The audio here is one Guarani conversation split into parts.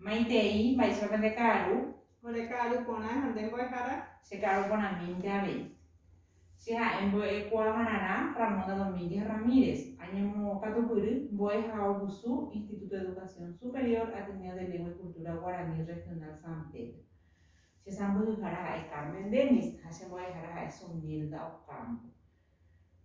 Maitei, mba'éichapa pende ka'aru. Ore ka'aru porã ha nde mbo'ehára. Che ka'aru porãmínte avei. Che ha'e mbo'ekuaavararã Ramonda Domínguez Ramírez, añemokatupyry mbo'e ha ogusu Instituto de Educación Superior Ateneo de Lengua y Cultura Guaraní Regional San Pedro. Che sãmbyhyhára ha'e Carmen Dennis ha che mbo'ehára ha'e Zunilda Ocampo.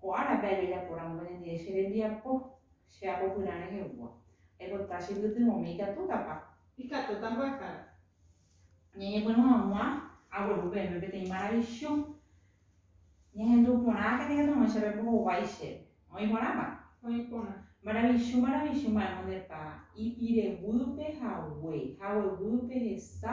Ko árape ajajapo rango ñande che rembiapo, che apopyrã rehegua. Aipota che pytyvõmi ikatútapa. Ikatúta mbo'ehára. Ñañepyrũ hag̃ua agueru peẽme peteĩ maravisiõ. Ñahendu porã katu katumo'ãi chéve mbohovái chéve. Oĩ porãpa? Oĩ porã. Maravisiõ, maravisiõ mba'émonepa ipireguýpe hague, hagueguýpe hesa,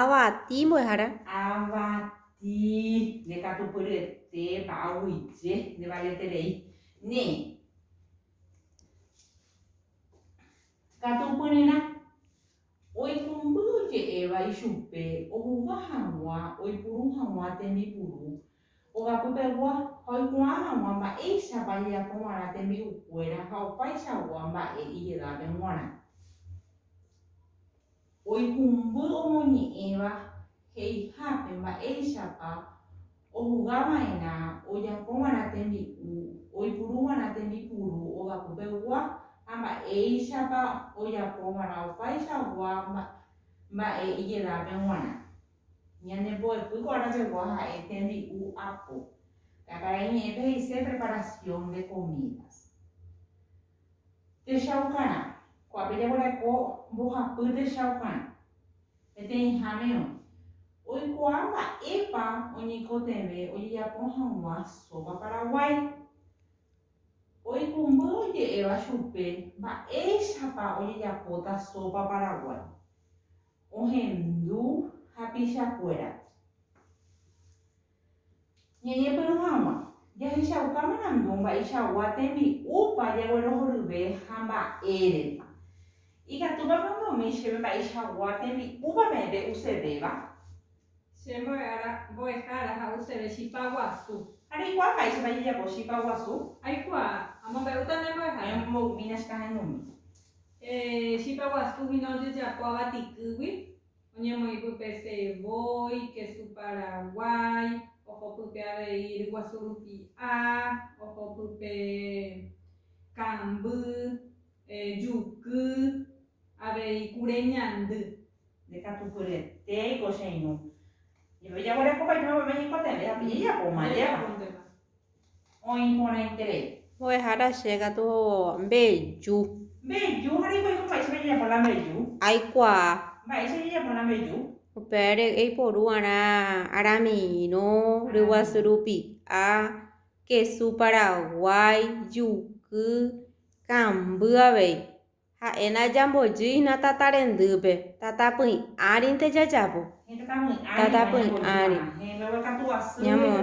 Avati mbo'ehára. Avati nde katupyryetépa, aguyje nde valeterei. Ne'ẽ. Katupyryrã. Oikũmby oje'éva ichupe ohuga hag̃ua oipuru hag̃ua tembipuru ogapy pegua ha oikuaa hag̃ua mba'éichapa ajejapo va'erã tembi'ukuéra ha opaichagua mba'e ijedápe g̃uarã. Oikũmby omoñe'ẽva he'ihápe mba'éichapa ohugava'erã ojapova'erã tembi'u, oipuruva'erã tembipuru ogapopegua ha mba'éichapa ojapova'erã opaichagua mba'e ijedápe g̃uarã. Ñanembo'epy ko ára pegua ha'e tembi'u apo. Pe akarai ñe'ẽpe he'ise preparación de comidas. Techaukarã. Ko'ápe jaguereko mbohapy techaukarã. Peteĩháme oĩ. Oikuaa mba'épa oñeikotevẽ ojejapo hag̃ua sópa paraguái. Oikũmby oje'éva chupe mba'éichapa ojejapóta sópa paraguái. Ohendu hapichakuérape. Ñañepyrũ hag̃ua, jahechauka marandu mba'eichagua tembi'úpa jaguerohoryve ha mba'érepa. Ikatúpa pe omba'umi chéve mba'eichagua tembi'úpa peẽ pe usevéva? Che mbo'ehára, mbo'ehára ha useve chipa guasu. Ha reikuaa mba'éichapa jajapo chipa guasu? Aikuaa. Amombe'úta nde mbo'ehára. Pe mbo'umína chekahãindumi. Chipa guasu hína ojejapo avati kýgui, Oñemoĩpypese voi, kesu paraguái, ohopype avei ryguasu rupi'a, ohopype kamby, juky, avei kure ñandy. Ndekatupyretéi ko che irũ. Jepe jaguerekópa ichupe meme ñekotevẽ ha pe jejapóma jeva. Oĩ porãiterei. Mbo'ehára che katu mbeju. Mbeju ha reikuaáiko mba'éichapa jajapo la mbeju. Aikuaa. Mba'éicha jajapo la mbeju. Upévare eiporu'arã aramirõ, ryguasu rupi'a, kesu paraguái, juky, kamby avei. Ha'e najambojýina tata rendýpe, tata py'ãrinte jajavo. Tata py'ãri ñamo'ẽ.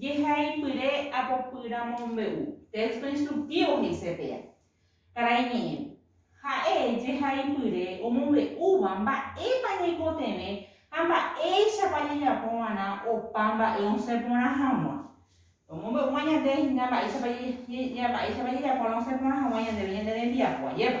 Jehaipyre apopýra mombe'u. Texto instructivo he'ise péa. Karai ñe'ẽ. Ha'e jehaipyre omombe'úva mba'épa ñaikotevẽ ha mba'éichapa jajapo va'erã opa mba'e osẽ porã hag̃ua. Omombe'úva ñande hína mba'éichapa jajapo va'erã osẽ porã hag̃ua ñandéve ñande rembiapo. Ajépa.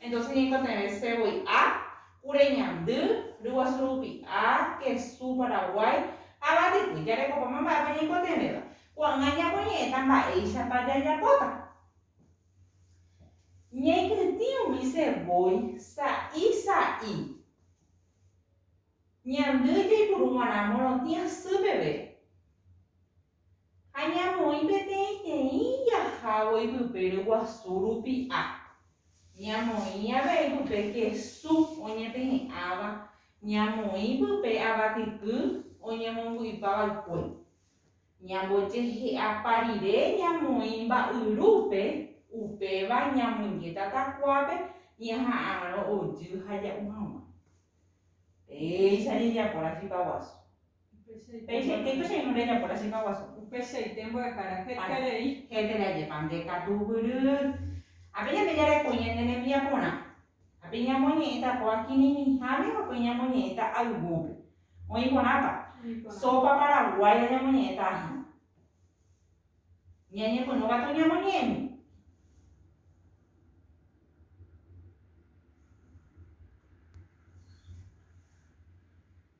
Entonces ñaikotevẽ se voi A, kure ñandy, ryguasu rupi'a, kesu, Paraguái, ha vatekue. Jarekopáma mba'épa ñaikotevẽva. Ko'ág̃a ñamoñe'ẽta mba'éichapa jajapóta. Ñaikytĩ umi se voi sa'i sa'i. Ñandy jaipuru g̃uarã morotĩ asy peve. Ha ñamoĩ peteĩteĩ ijahávo ipype ryguasu rupi'a. Ñamoĩ avei pype kesu oñepehe'ãva, ñamoĩ pype avatyky oñemomby'ypa vaikue. Ñambojehe'apa rire ñamoĩ mba'yrúpe, upéva ñamoinge tatakuápe ñaha'arõ ojy ha ja'u hag̃ua. Péicha jajapo rachipa guasu. Peichaite ipo che irũ rejapo la chipa guasu. Upeichaite mbo'ehára hete rei. Hete rei ajépa nde katu guiry. Ha pe ñande jareko ñande rembia porã. Ha pe ñamoñe'ẽta ko akĩrĩrĩháme ha pe ñamoñe'ẽta ayvúpe. Oĩ porãpa. Sopa paraguaya ñamoñe'ẽta ahĩ. Ñañepyrũ katu ñamoñe'ẽmi.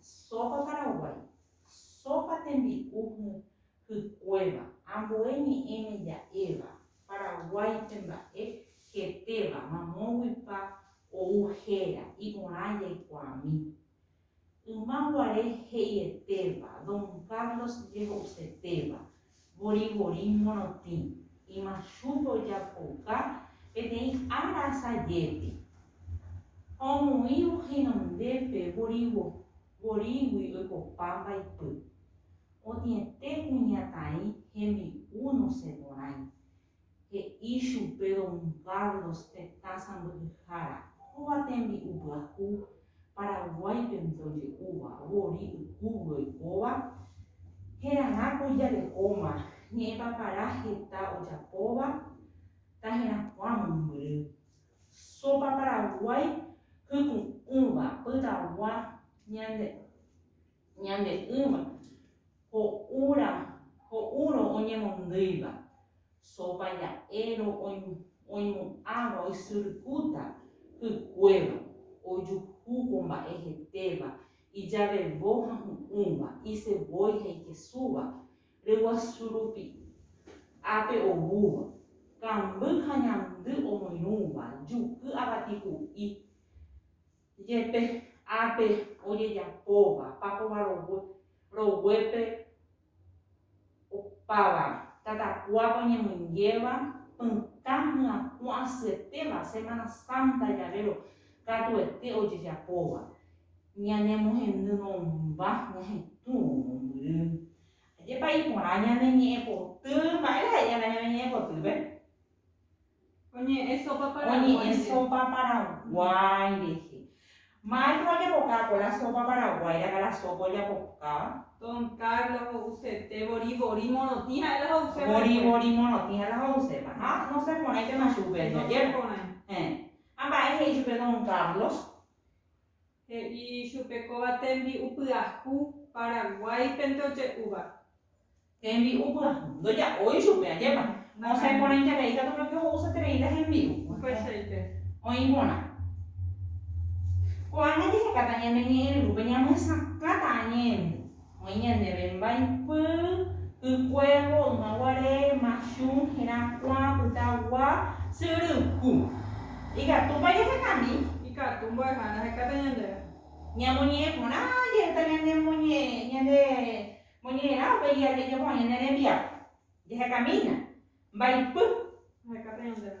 Sópa paraguái, sópa tembi'u hykuéva, ambue ñe'ẽme ja'éva, Paraguáipe mba'e hetéva, mamóguipa ou héra, iporã jaikuaami. Yma guare he'ietéva, Don Carlos jeho'usetéva, Vorivorí morotĩ, imachúpe ojapouka peteĩ ára asajépe. Ha omoĩvo henondépe vorivo vorígui oikopa mbaipy. Otĩete kuñataĩ hembi'u nosẽporãi, he'i chupe don Carlos tetã sãmbyhyhára, kóva tembi'u pyahu Paraguáipe ndoje'úva, vori ykúgui oikóva, heragã ko ijarekóma, ñe'ẽpa para heta ojapóva, taherakuã mombyry, sopa paraguái hyku'ũva, pytagua, ñande. Ñande'ỹva, ho'úra, ho'úrõ oñemondýiva, sópa ja'érõ oimo'ãva oisyrykúta hykuéva, ojuhu ko mba'e hetéva, ijavevo ha hu'ũva, isevói ha ikesúva, ryguasu rupi ápe oúva, kamby ha ñandy omoirũva, juky avati hu'i, Jepe ápe ojejapóva pákova rogue, roguépe opáva, tatakuápe oñemonjéva, pytã myakuã asyetéva, Semana Santa javérõ katuete ojejapóva, ñanemohendy nomba ñahetũvo mombyry. Ajépa iporã ñane ñe'ẽpoty, mba'éra he'íva ñane ñe'ẽpotýpe? Oñe'ẽ sópa paraguái rehe. Maestro ojapokáko la sópa paraguái ra'ga la sópa ojapokáva. Don Carlos ho'usete vori vori morotĩ ha'e la ho'uséva. Vori vori morotĩ ha'e la ho'uséva. Ha noseporãitema chupe ajevépe. Noseporãi. Héẽ. Ha mba'e he'i chupe don Carlos? He'i chupe kóva tembi'u pyahu Paraguáipe ndoje'úva. Tembi'u pyahu. Ndoja'ói chupe, ajépa. Osẽ porãiterei katu peve ho'usaterei la hembi'u. Upeichaite. Oĩ porã. Ko'ág̃a jahekáta ñane ñe'ẽryrúpe ñamyesakãta añe'ẽrýva. Oĩ ñandéve mbaipy, y kuévo, yma guare, machu, hirã, kuã, pyta, gua, sy yry, ku. Ikatúpa jahekami? Ikatu mbo'eha ndahekáta ñandéve. Ñamoñe'ẽ porã jeheta ñande moñe'ẽrã avei jajapo hag̃ua ñane rembiapo. Jahekamína. Mbaipy. Ndahekáta ñandéve.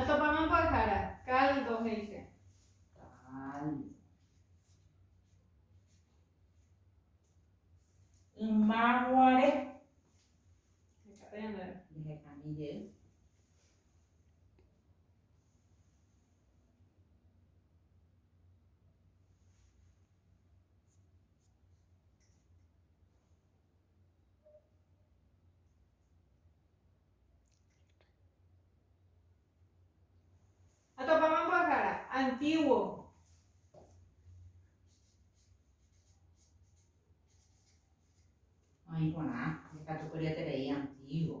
Atopáma mbo'ehára, caldo he'ise. Caldo. Ymaguare. Hekate ñande. Jehekami jey. Atopáma mbo'ehára antígua. Oĩ porã, ikatu kuri eterei antígua.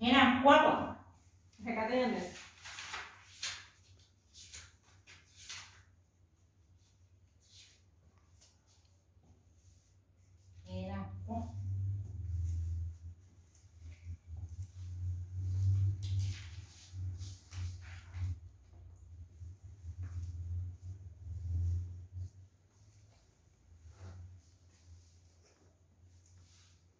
Herakuãva. Hekáta ñande.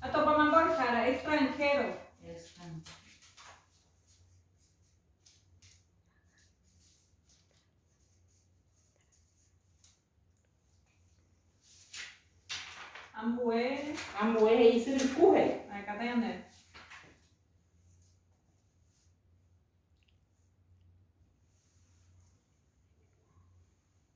Atópama mbo'ehára extranhero. Ambue. Ambue he'i ysyrykuhe. Aekata ñande.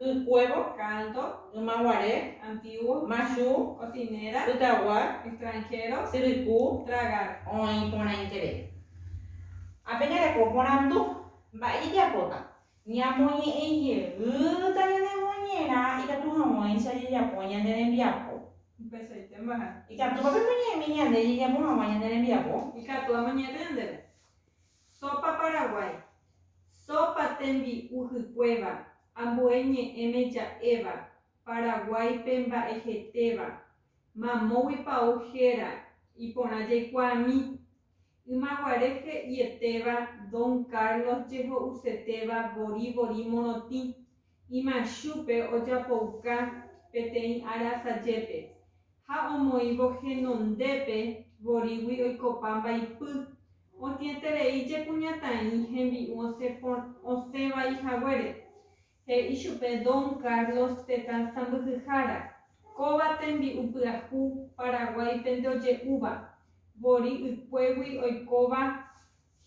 Ykuévo, canto, yma guare, antiguo, machu, cocinera, pytagua, extranjero, syryku, tragar. Oĩ porãiterei. Ha peñareko porandu, Mba'e jajapóta? Ñamoñe'ẽ jeýta ñane moñerã ikatu hag̃uáicha jajapo ñande rembiapo. Upeichaitémbaha. Ikatúpa pemoñe'ẽmi ñande jajapo hag̃ua ñande rembiapo? Ikatu amoñe'ẽta ñandéve. Sópa Paraguái, Sópa tembi'u hykuéva, ambue ñe'ẽme ja'éva, Paraguáipe mba'ehetéva, mamógui pau héra, iporã jaikuaami. Ymaguare he'ietéva Don Carlos jeho'usetéva vori vori morotĩ, Imachúpe ojapouka peteĩ ára sajépe, ha omoĩvo henondépe vorígui oikopa mbaipy, otĩeterei jekuñataĩ hembi'u osẽ osẽ vai haguére. He'i chupe Don Carlos tetã sãmbyhyhára, Kóva tembi'u pyahu Paraguáipe nde oje'úva, vorí ykuégui oikóva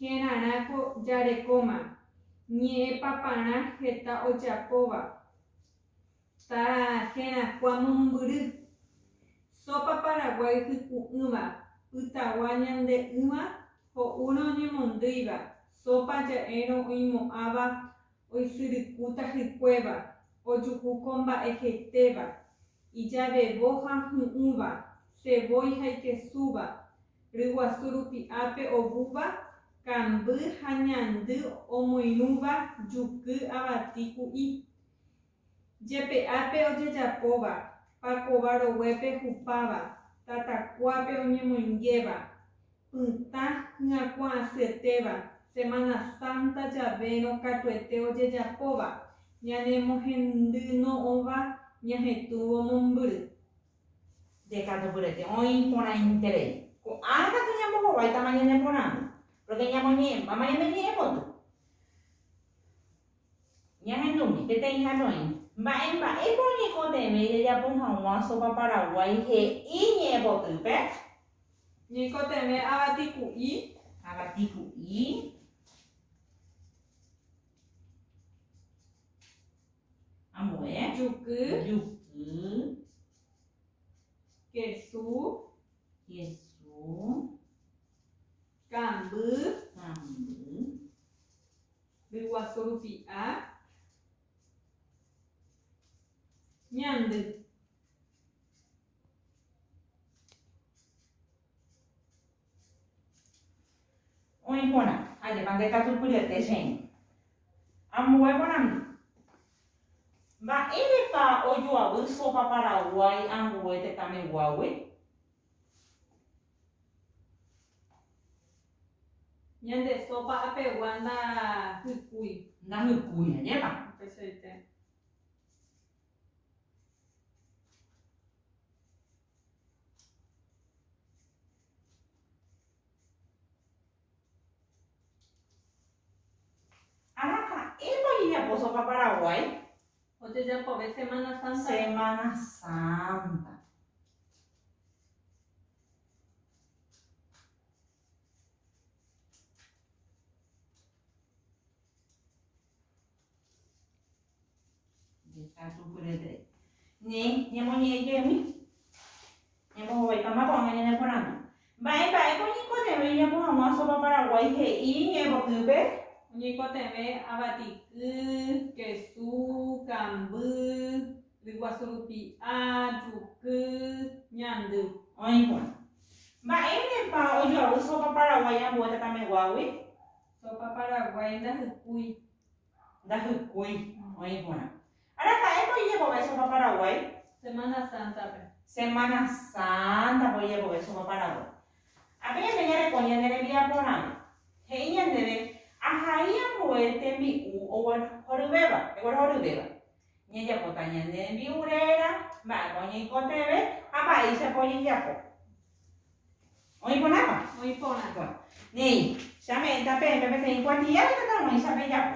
Hérarã ko jarekóma, ñe'ẽ paparã heta ojapóva. Ta herakuã mombyry. Sópa paraguái hyku'ỹva, pytagua ñande'ỹva, ho'úrõ oñemondýiva, sópa ja'érõ oimo'ãva oisyrykúta hykuéva, ojuhu ko mba'e hetéva, ijavevo ha hy'ỹva, sevói ha ikesúva, ryguasu rupi ápe ovúva, kamby ha ñandy omoirũva, juky, avati, ku'i. Jepe'ápe ojejapóva, pakova roguépe hupáva, tatakuápe oñemoingéva, pytã hyakuãasyetéva, Semana Santa javérõ katuete ojejapóva, ñanemohendyno'õva ñahetũvo mombyry. Jekatupyrete oĩ porãiterei. Ko'ág̃a katu ñambohováitama ñane porãgui, pórke ñamoñe'ẽmbáma ñane ñe'ẽpoty. Ñahendúmi, peteĩha noĩ, mba'e mba'épa oñeikotevẽi jajapo hag̃ua sópa paraguái he'i ñe'ẽpotýpe? Ñeikotevẽ avati ku'i. Avati ku'i. Ambue. Juky. Juky. Kesu. Kesu. Kamby. Kamby. ryguasu rupi a, ñandy. Oĩ porã, ajépa ndekatupyryete che irũ. Ambue porandu, Mba'érepa ojoavy sopa paraguái ambue tetãmeguágui? Ñande sopa apegua ndahykúi. Ndahykúi, añépa. Upeichaite. Araka'épa ojejapo sopa Paraguái? Ojejapove Semana Santa. Semana Santa. Ni ñemoñe'ẽjeými. Ñembohovaitama ko'ág̃a ñane porandu. Mba'e mba'épa oñeikotevẽ oñeapo hag̃ua Sopa Paraguái he'i ñe'ẽpotỹpe? Oñeikotevẽ avatiky, kesu, kamby, ryguasu rupi'a, juky, ñandy. Oĩ porã. Mba'érepa ojoavy Sopa Paraguái ambue tatameguágui? Sopa Paraguái ndahykúi. ndahykúi oĩ g̃uarã. Ára ha'épa oijekove sopa Paraguái? Semana Santa-pe. Semana Santa-pe oijekove sopa Paraguái. Ha pe ñande ñareko ñane rembiaporãme, he'i ñandéve ahai ambue tembi'u oguerohoryvéva, eguerohoryvéva. Ñajapóta ñane rembi'u réra, mba'épa oñeikotevẽ ha mba'éichapa ojejapo. Oĩ porãpa? Oĩ porã. Bueno, néi, che ame'ẽta peẽme peteĩ kuatia retãtaguãicha pejapo.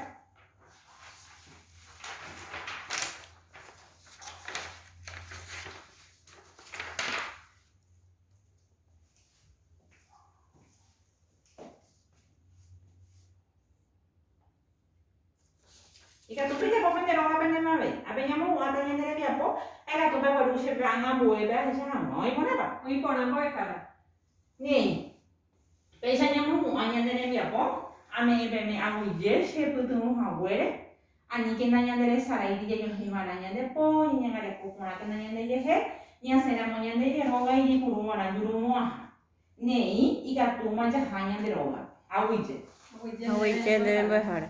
Ikatu pejapo pende róga pende mave, ha peñamohu'ãta ñande rembiapo, ha ikatu pegueru che plan ambuépe ahecha hag̃ua. Oĩ porãpa? Oĩ porã mbove káda. Néi, péicha ñamohu'ã ñande rembiapo, ame'ẽ peme aguyje chepytyvõ haguére, aníkena ñande resaráigui jajohẽ va'erã ñande po, ñañangareko porãkena ñande jehe, ñasẽ ramo ñande Jehová ijepuru va'erã jurumo'ãha. Néi, ikatúma jaha ñande rógape, aguyje. Aguyje nde rembiapohára.